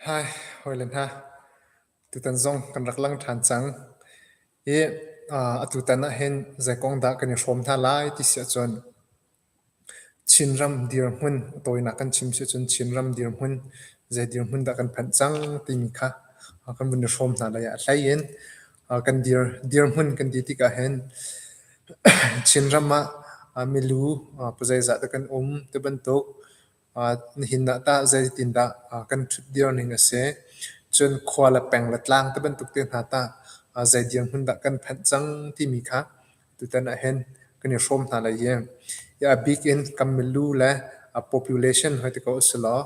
Hi hawile hna, tutan zong kan rak lang ṭhan cang i atutan ahhin zei kong dah kan i hrawm hna lai ti si ahcun Chinram dirhmun, a tawinak kan chim si ahcun Chinram dirhmun, zei dirhmun dah kan phanh cang timi kha kan vun i hrawm hna lai ah a hlei in kan dir. Dirhmun kan ti tikah hin Chinram ah milu zeizah dah kan um ti bantuk nihin ah tah zeitindah kan ṭhutdir ning a si. Cun khua le peng le tlang ti bantuk te hna tah zei dirhmun dah kan phanh cang timi kha tutan ah hin kan i hrawm hna lai i a bik in kan milu le population hoiti ko a si law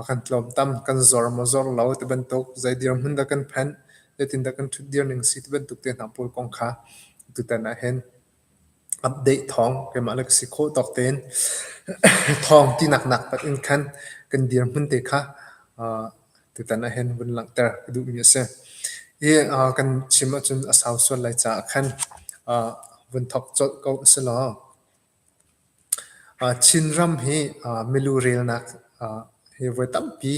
kan tlawmtam. Kan zor maw zor lo ti bantuk zei dirhmun dah kan phanh, zeitindah kan ṭhutdir ning si ti bantuk te hna pawl kong kha tutan ah hin update thawng keimah le ka si khawh tawk tein thawng tinak naktak in khan kan dirhmun te kha tutan ah hin vun langhter ka duhmi a si. Hi kan chim ahcun a sau sual lai caah khan vun thawk colh ko a si law Chinram hi milu relnak hi voi tampi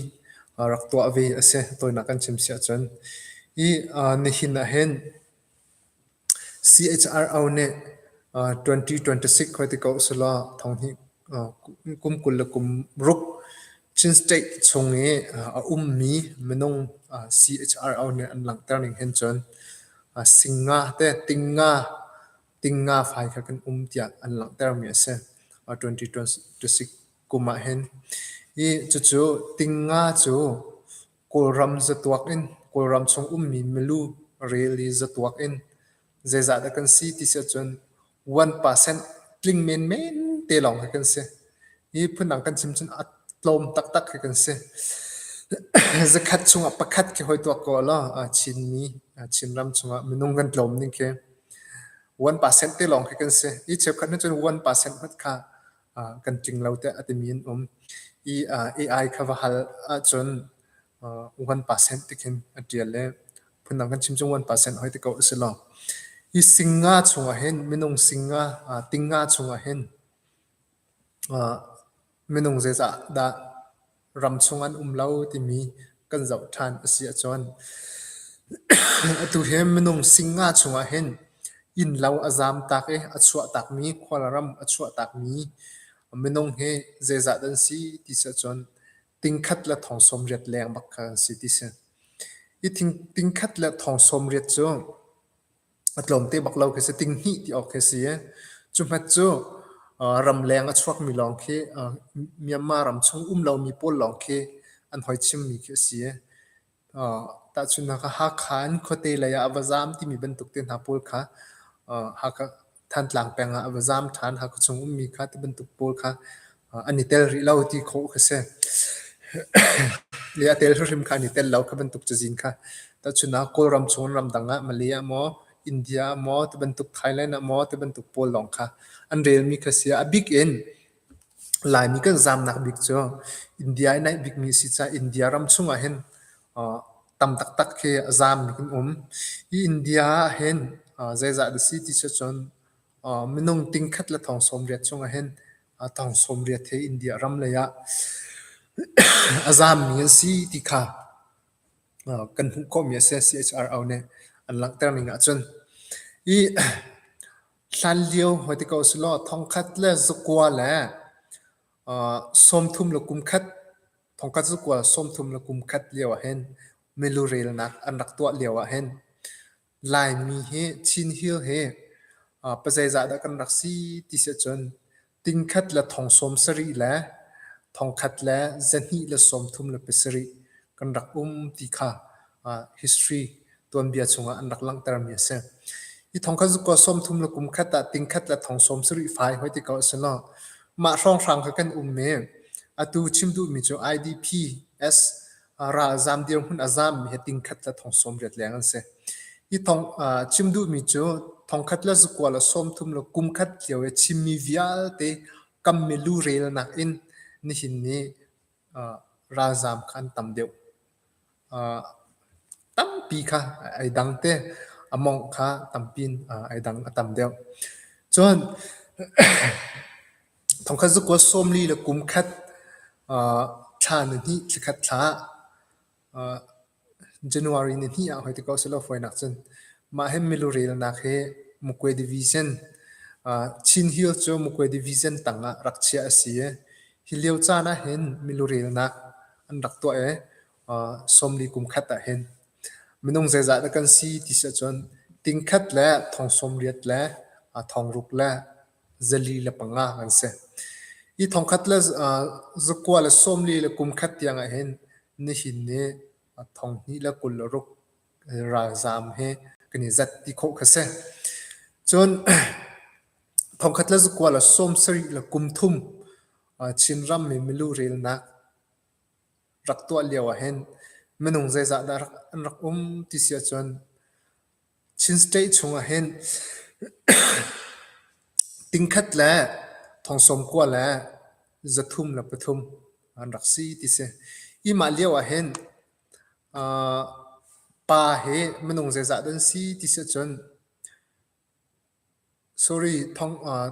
rak tuah ve a si. Tawinak kan chim si ahcun nihin ahhin CHRO nih 2026 khoi ti ko usihlaw thonghnih kum kul le kum ruk Chin State chung i a ummi minung CHRO nih an langhter ning hin cun singa te, tinga, Tingnga fai kha kan um tiah an langhtermi a si. Uh, 2026 kum ah hin. I cucu tingnga cu Kawlram zatuak in Kawlram chung ummi milu rili zatuak in zeizah dah kan si ti si ahcun 1% tling menmen te lawng hi kan si. hi phundang kan chim cun a tlawm taktak khi kan si. Zakhat chungah pakhat khi hoi tuak ko law Chinmi Chinram chungah minung kan tlawm ning khi 1% te lawng khi kan si. I cheukhat nih cun 1% hmat kha kan tling lo tiah a timi an um. I AI kha va hal ahcun 1% te khin a tial le phundang kan chim cun 1% hoi te ko a si lo. Hi singa chungah hin minung singa tinga chungah hin Minung zeicah dah ram chung an um lo timi kan zoh ṭhan a si ahcun atu hi minung singa chungah hin innlo a zaam tak i a chuah takmi khualram a chuah takmi minung hi zeizat an si ti si ahcun tingkhat le thong sawmriat leng bak kha an si ti si. Hi tingkhat le thong sawmriat cu a tlawm te bak lo khi si ting hnih ti awk khi si i cu hmet cu uh, ramleng a chuakmi lawng khi uh, Myanmar ram chung um lomi pawl lawng khi an hoi chimmi khi a si uh, tahchun haka Hakha in khuate lei ah a va zaam timi bantuk te hna pawl kha uh, Hakha Thantlang peng ah a va zaam ṭhan Hakha chung ummi kha ti bantuk pawl kha an i tel rih lo ti khawh ka si. Le a tel hrimhrim kha an i tel lo kha bantuk cazin kha. Tahchun ah Kawlram chung ramdang ah Malay ah maw India ah maw ti bantuk Thailand ah maw ti bantuk pawl lawng kha an relmi kha si. A bik in Laimi kan zaamnak bik cu India i naih bikmi a si caah India ram chungah hin tam taktak khi zaam in um. Hi India ah hin zeizah da si ti cu cun minung tingkhat le thong sawm riat chungah hin a tang sawmriat he India ram lei ah a zaammi an si ti kha kan hmuh khawhmi a si. CHRO nih an langhter ning ahcun hi hlanlio hoi ti ko si law thongkhat le zakua le sawmthum le kumkhat thongkhat zakua sawmthum le kumkhat lio ah hin milu relnak an rak tuah lio ah hin Laimi hi Chin Hill hi uh, pazeizah dah kan rak si ti si ahcun tingkhat le thong sawm sarih le thongkhat le zahnih le sawmthum le pasarih kan rak um ti kha uh, history tuanbia chungah an rak langhtermi a si. Hi thongkhat cu kua sawmthum le kum khat ah tingkhat le thong sawm sarih fai hoi ti ko a si lo. Mah hrawnghrang kha kan um i atu chim duhmi cu IDP S ralzaam dirhmun a zaammi hi tingkhat le thong sawm riat leng an si. Hi thong chim duhmi cu thongkhat le zakua le sawmthum le kumkhat lio i chimmi vialte kamme lu relnak in nihin ni ralzaam kha an tam deuh. tampi kha ai dang te a mongh kha tampi in ai dang a tam deuh. Cun Thongkhat zakuat sawmli le kum khat thla nihnih thlakhat thla, January nihnih ah hoi ti ko selaw fawinak cun mah hi milu relnak hi Mukwe Division, Chin Hill cu Mukwe Division tang ah rak chiah a si i hi lio caan ah hin milu relnak an rak tuah i sawmli kum khat ah hin minung zeizah dah kan si ti si ahcun tingkhat le thong sawmriat le thong ruk le zali le panga an si. Hi thongkhat le zakua le sawmli le kumkhat tiang ah hin nihin ni thonghnih le kul ruk ralzaam hi kan i zat ti khawh kha si. Cun thongkhat le zakua le sawm sarih le kum thum Chinrammi milu relnak rak tuah lio ah hin minung zeizah dah an rak um ti si ahcun Chin State chungah hin tingkhat le thongsawm kua le zathum le pathum an rak si ti si. Hi mah lio ah hin pa hi minung zeizah dah an si ti si ahcun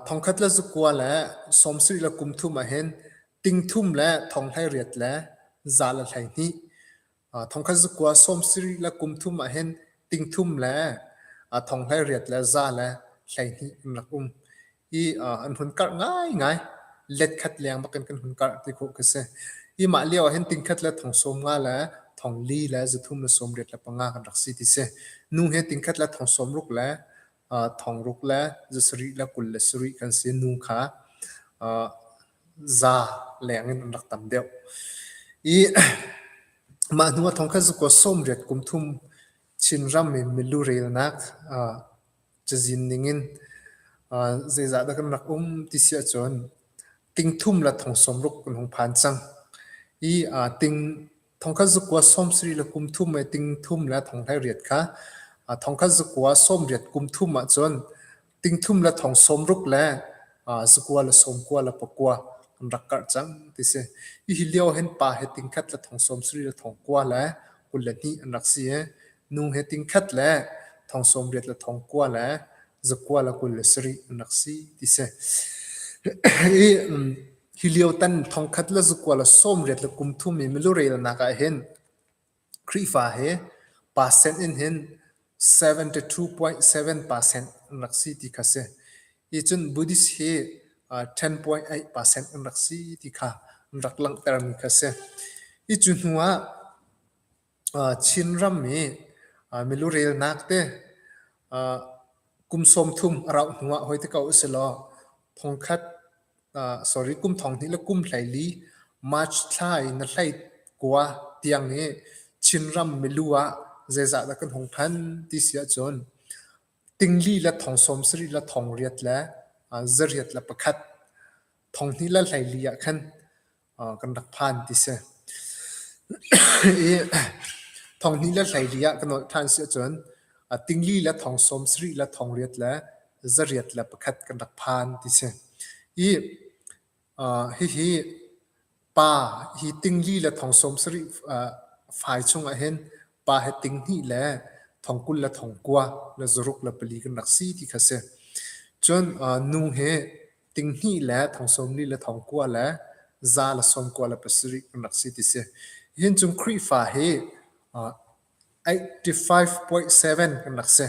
Thongkhat le zakua le sawm sarih le kum thum ahhin ting thum le thong hleiriat le za le hleihnih. Thongkhat zakua sawm sarih le kum thum ahhin ting thum le thong hleiriat le za le hleihnih in rak um i an hun karh ngaingai. Let khat leng bak in kan hun karh ti khawh khi si. Hi mah lio ahhin ting khat le thong sawm nga le thong li le zathum le sawm riat le panga kan rak si ti si. Nu hi ting khat le thong sawm ruk le thong ruk le za sarih le kul le sarih kan si nu kha za leng in an rak tam deuh. I mah hnu a thong kha zukua sawmriat kum thum Chinram i milu relnak cazin ning in zeizah dah kan rak um ti si ahcun, ting thum le thong sawm ruk kan hung phan cang. I ting Thongkhat zakua sawmsarih le kum thum le ting thum le thonghlai riat kha thongkhat zakua sawmriat kum thum ahcun ting thum le thong sawmruk le zakua le sawmkua le pakua an rak karh cang ti si. Hihi lio hen pa he tingkhat le thong sawmsarih le thongkua le kul le hnih an rak si i, nu he tingkhat le thong sawmriat le thongkua le zakual a kul a si rih an rak si ti si. I hi lio tan thongkhat le zakual a sawm riat le kum thum i milurelnak ah hin Khrihfa he percent in hin 72.7 percent an rak si ti kha si. Hi cun Buddhist hi uh, 10.8 percent an rak si ti kha an rak langhtermi kha si. Hi cu hnu ah Chinram i milu relnak te kum sawmthum a rauh hnu ah hoi ti ko usilaw thongkhat sorry kum thonghnih le kum hleili March thla in na hleit kua tiang i Chinram milu ah zeizah dah kan hung phan ti si ahcun tingli le thong sawmsarih le thong riat le zariat le pakhat thonghnih le hleili ah khan kan rak phan ti si. I thonghni le hleili ah kan olh ṭhan si ahcun a tingli le thong sawmsarih le thong riat le zariat le pakhat kan rak phan ti si. I uh, hihi pa hi tingli le thong sawmsarih uh, fai chung ahhin pa he tinghnih le thong kul le thong kua le zaruk le pali kan rak si ti kha si. Cun uh, nu he tinghnih le thong sawmli le thong kua le za le sawm kua le pasarih kan rak si ti si. Hihin cung Khrihfa hi uh, 85.7 kan rak si.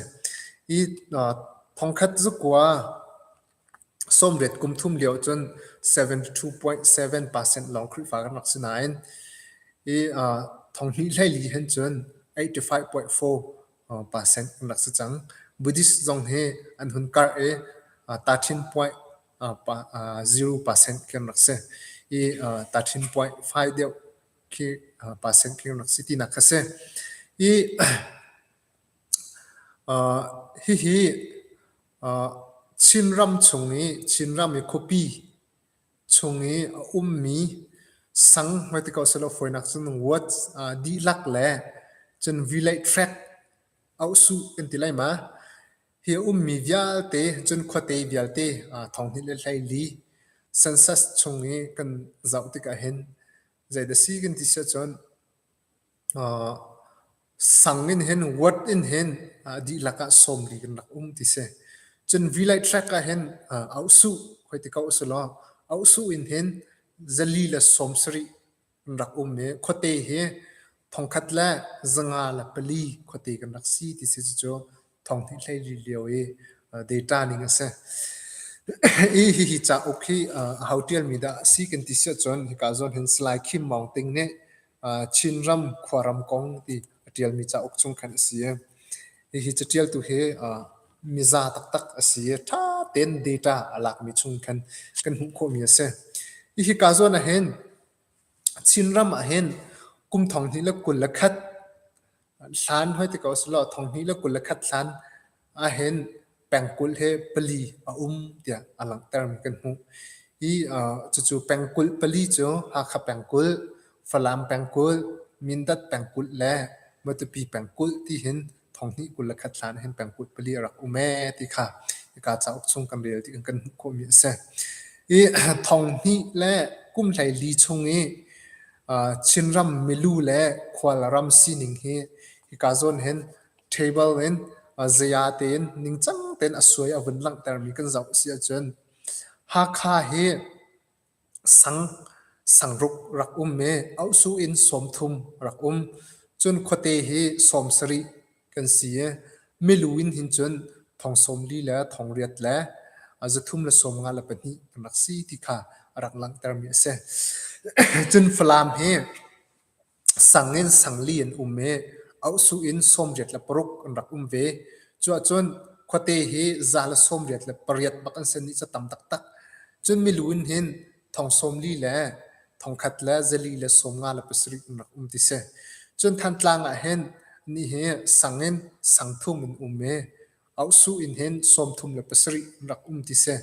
I uh, thongkhat zukua sawmriat kum thum lio cun 72.7 percent lawng Khrihfa kan rak si nain i uh, thonghnih hlei li hin cun 85.4 pa Seng an rak si cang. Buddhist zong hi an hun karh i Tathin puai pa ziru pa Seng khi an rak si i Tathin puai fai deuh khi pa Seng khi an rak si tinak kha si. I hihi Chinram chung i Chinram i khuapi chung i a ummi sang hmai ti ko sehlaw fawinak cun wood aa dihlak le cun vilei track a uhsuh kan ti lai ma. Hi a ummi vialte cun khuate vialte aa thonghnih le hleili census chung i kan zoh tikah hin zeidah a si kan ti siahcun sang in hin word in hin dihlak ah sawmli kan rak um ti si. Cun Vilai track ah hin ausuh hoi ti ko a si law ausuh in hin zali le sawmsarih kan rak um i khuate hi thongkhat le zanga le pali khuate kan rak si ti si cucu thonghnih hlei rih lio i data ning a si. I hihi cauk hi a ho ṭialmi dah a si kan ti si ahcun hika zawn hin Salai Khim Maung Ting nih Chinram Khuaram Kong ti a ṭialmi cauk chung khan a si i hihi caṭialtu hi miza taktak a si i ṭha tein data a lakmi chung khan kan hmuh khawhmi a si. I hika zawn ahhin Chinram ahhin kum thonghnih le kul le khat Hlan hoi ti ko selaw thonghnih le kul le khat hlan ahhin pengkulh hi pali a um tiah a langhtermi kan hmuh. I uh, cucu pengkulh pali cu Hakha pengkulh, Falam pengkulh, Mindat pengkulh le Matupi pengkulh tihin thonghnih kul le khat hlan ahhin pengkulh pali a rak um ee ti kha hika cauk chung kan rel ti kan hmuh khawhmi a si. I thonghnih le kum hlei li chung i Chinram milu le khualram sining hi hika zawn hin table in zaya tein ningcang tein a suai a vun langhtermi kan zoh a si ahcun Hakha hi sangruk rak um i auhsuh in sawmthum rak um. Cun khuate hi sawm sarih kan si i milu in hin cun thong sawm li le thong riat le zathum le sawm nga le pahnih kan rak si ti kha a rak langhtermi a si. Cun Falam hi sang in sangli an um i auhsuh in sawmriat le paruk an rak um ve. Cuahcun khuate hi za le sawmriat le pariat bak an si i ca tam taktak. Cun milu in hin thong sawmli le thongkhat le zali le sawm nga le pasarih in rak um ti si. Cun Thantlang ah hin ni hi sang in sangthum in um i ausu in hin sawmthum le pasarih in rak um ti si.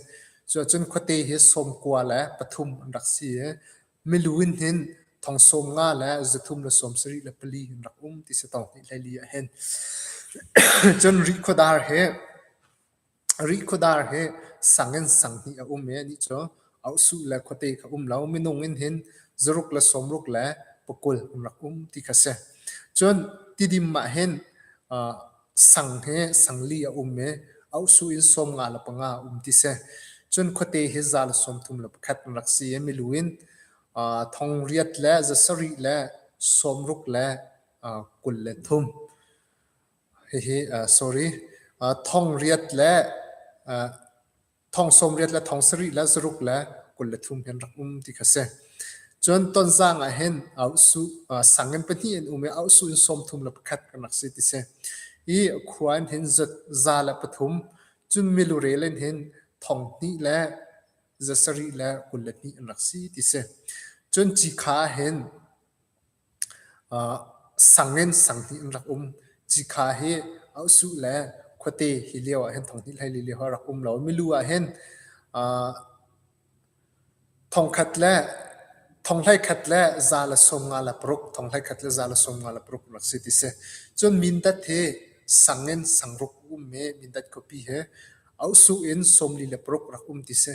Cuahcun khuate hi sawm kua le pathum an rak si i milu in hin thong sawm nga le zathum le sawm sarih le pali in rak um ti si tawk ni le li ah hin. Cun Rih khuadar hi Rikhuadar hi sang in sang hnih a um i anih cu ohsuh le khuate kha a um lo. Minung in hin zaruk le sawmruk le pakul an rak um ti kha a si. Cun tidim ah hin aa sang hi sangli a um i ohsuh in sawm nga le panga a um ti a si. Cun khuate hi za le sawmthum le pakhat an rak si i milu in aa thong riat le za sarih le sawmruk le aa kul le thum. Thong riat le thong sawmriat le thong sarih le zaruk le kul le thum hi an rak um ti kha si. Cun tonzang ah hin sang in pahnih an um i auhsuh in sawmthum le pakhat kan rak si ti si. I khua in hin za le pathum, cun milure in hin thong hnih le za sarih le kul le hnih an rak si ti si. Cun ci kha hin Sang in sanghnih an rak um. Cikha hi Ohsuh le khuate hi lio ahhin thonghnih hleili lio ah rak um lo. Milu ahhin thongkhat le thonghlei khat le za le sawm nga le paruk, thonghlei khat le za le sawm nga le paruk rak si ti si. Cun mindat hi sang in sangruk a um i mindat khuapi hi Ohsuh in sawmli le paruk rak um ti si.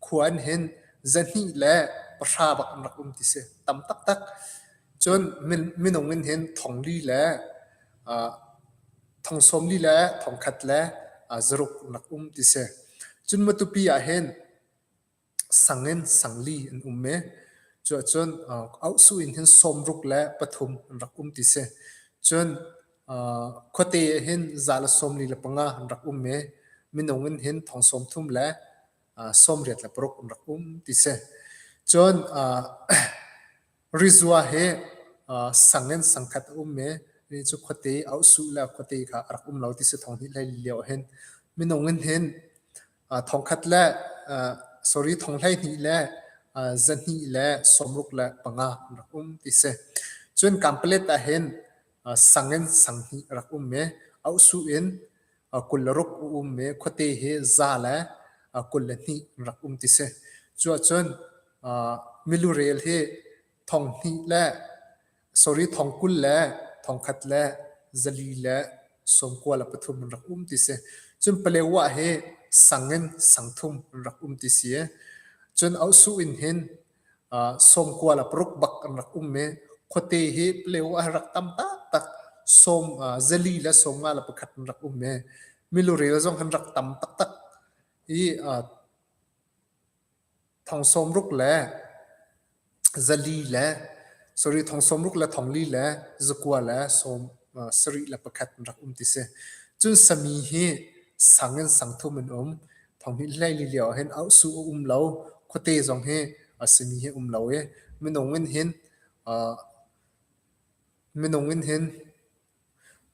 khua an hin zahnih le pahra bak an rak um ti si tam taktak cun minung in hin thong li le thong sawm li le thong khat le zaruk nak um ti si cun matupi ah hin sang in sangli an um e cu cun ausu in hin sawmruk le pathum an rak um ti si cun khuate hin za le sawm li le panga an rak um e minung in hin thong sawm thum le sawmriat le paruk an rak um ti si. Cun rizua hi sang in sangkhat a um i mi cu khuate i auhsuh le khuate kha a rak um lo ti si thong hnih hlei lio hin. Minung in hin thongkhat le sorry thong hlei hnih le za hnih le sawmruk le panga an rak um ti si. Cun kaan palet ah hin sang in sanghnih rak um i auhsuh in kul le ruk a um i khuate hi za le kul le hnih rak um ti si. Cuahcun milurel hi thong hnih le sorry thong kul le thong khat le zali le sawmkua le pathum in rak um ti si. Cun paleuah hi sang in sang thum rak um ti si i cun auhsuh in hin sawmkua le paruk bak an rak um i khuate hi pleo a rak tam taktak sawm zali le sawm nga le pakhat an rak um i milurel zong an rak tam taktak i thong sawm ruk le zali le sorry thong sawm ruk le thong li le zakua le sawm sarih le pakhat an rak um ti si cun sami hi sang in sang thum an um Thawnghin hleili lio ah hin auhsu a um lo. Khuate zong hi a simi hi um lo i minung in hin aa minung in hin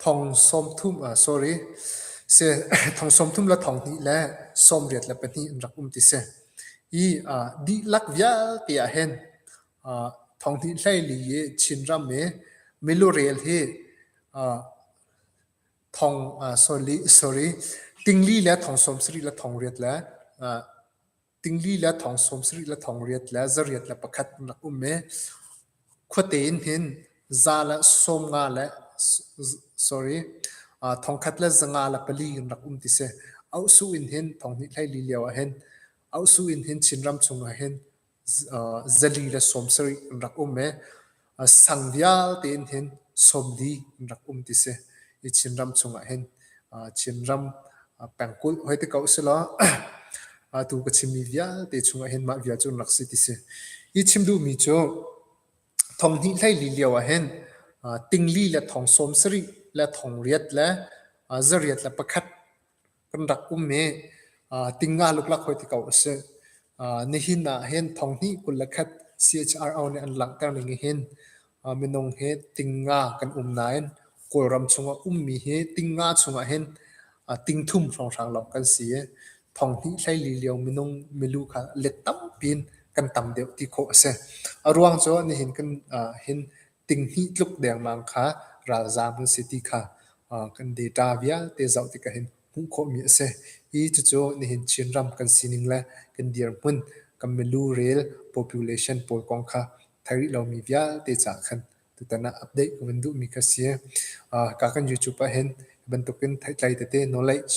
thong sawmthum ah sorry si thong sawmthum le thong hnih le sawmriat le pahnih in rak um ti si. I aa dihlak vialte ah hin aa thonghnih hleili i Chinram i milu rel hi aa Tingli le thong sawm sarih le thong riat le tingli le thong sawm sarih le thong riat le zariat le pakhat an rak um i khuate in hin za le sawm nga le thongkhat le zanga le pali an rak um ti si. Auhsuh in hin thong hnih hlei li lio ah hin Auhsuh in hin Chinram chung ah hin zali le sawm sarih an rak um i sang vialte in hin sawm li an rak um ti si. I Chinram chungah hin Chinram pengkulh hoi te ko selaw atu ka chimmi vialte chungah hin mah vial cu an rak si ti si. Hi chim duhmi cu thong hnih hlei li lio ah hin tingli le thong sawm sarih le thong riat le zariat le pakhat kan rak um hi tinga luklak hoi ti ko a si. Nihin ah hin thonghnih kul le khat CHRO nih an langhter ning ah hin minung hi tinga kan um nain Kawlram chungah ummi hi tinga chungah hin tingthum hrawnghrang lo kan si i thonghnih hleili lio minung milu kha let tampi in kan tam deuh ti khawh a si. A ruang cu nihin kan hin tinghnih tluk dengmang kha ralzaam kan si ti kha kan data vialte zoh tik ah hin hmuh khawhmi a si. Hi cucu nihin Chinram kan sining le kan dirhmun, kan milu rel population pawl kong kha thei rih lomi vialte caah khan tutan ah update kan duhmi kha a si. Ka kan YouTube ah hin bantukin theitlai tete knowledge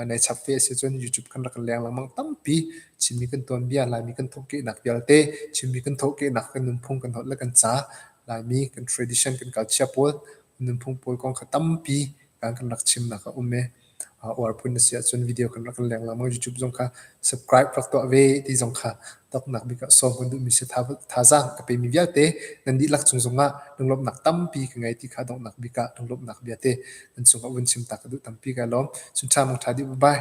nei chap ve asi cun YouTube kan rak leng lengmang tampi chimmi kan tuanbia Laimi kan thawhkehnak vialte chimmi kan thawhkehnak kan nunphung kan holh le kan ca Laimi kan tradition kan culture pawl nunphung pawl kong kha tampi kan kan rak chimnak a um i uar phun asi ahcun video kan rak leng lengmang YouTube zong kha subscribe rak tuah ve ti zong kha Tawknak bik ah sawm kan duhmi si thazaang ka pemi vialte nan dihlak cung zongah lunglawmhnak tampi ka ngei ti kha donghnak bik ah lunglawmhnak viate nan cungah vun chim ta ka duh tampi ka lawm. Cun ṭha mong ṭha dih bye.